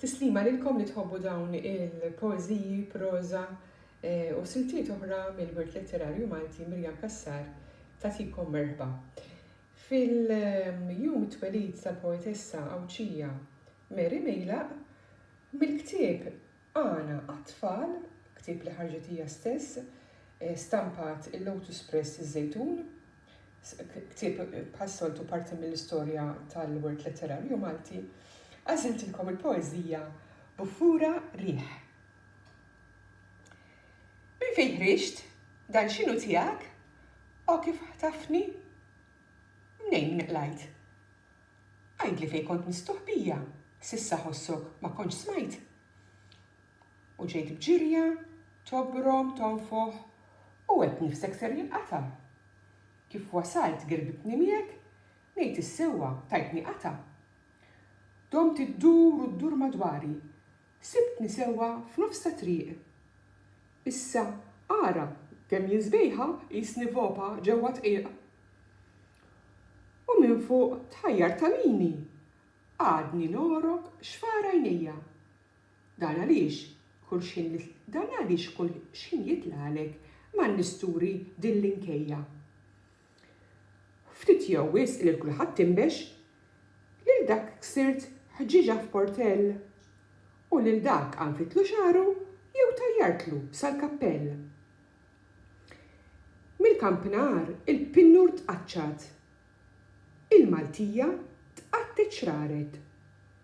Tislima lilkom li tħobbu dawn il-poeżiji, proża u siltiet oħra mill-wirt letterarju Malti Miriam Cassar tagħtikom merħba. Fil-jum it-twelid tal-poetessa Għawdxija Mary Milaq mill-ktieb Għana għat-Tfal, ktieb li ħarġet hija stess, stampat il-Lotus Press iż-Żejtun, ktieb bħas-soltu parti mill-istorja tal-wirt letterarju Malti, għażiltilkom il-poeżija Buffura Riħ. Minn fejn ħriġt, dan x'inhu tiegħek, o kif ħtafni, mnejn min qlajt. Għidli fejn kont mistuħ bija, s'issa ħossok ma kontx smajt? U ġejt b'ġirja, tobrom, tonfoħ, u għedt nifsek ser jinqata'. Kif wasalt girbitni miegħek, ngħid is-sewwa, tajtni qata'. Domt iddur u ddur madwari, Sibtni sewwa f'nofs ta' triq. Issa ara kemm jien sbejħa qisni vopa ġewwa dqiq. U minn fuq tħajjar tagħmini għadni nogħrok xfar għajnejja. Dan għaliex kull xħin li dan għaliex kull xħin jitlagħlek ma nisturi din l-inkejja. Ftit jew wisq lil kulħadd inbex, lil dak ksirt ħġieġa f'portell, u lil dak għanfitlu xagħru jew tajjartlu sal-kappell. Mill-kampnar il-pinnur tqaċċat, il-Maltija tqattet xraret,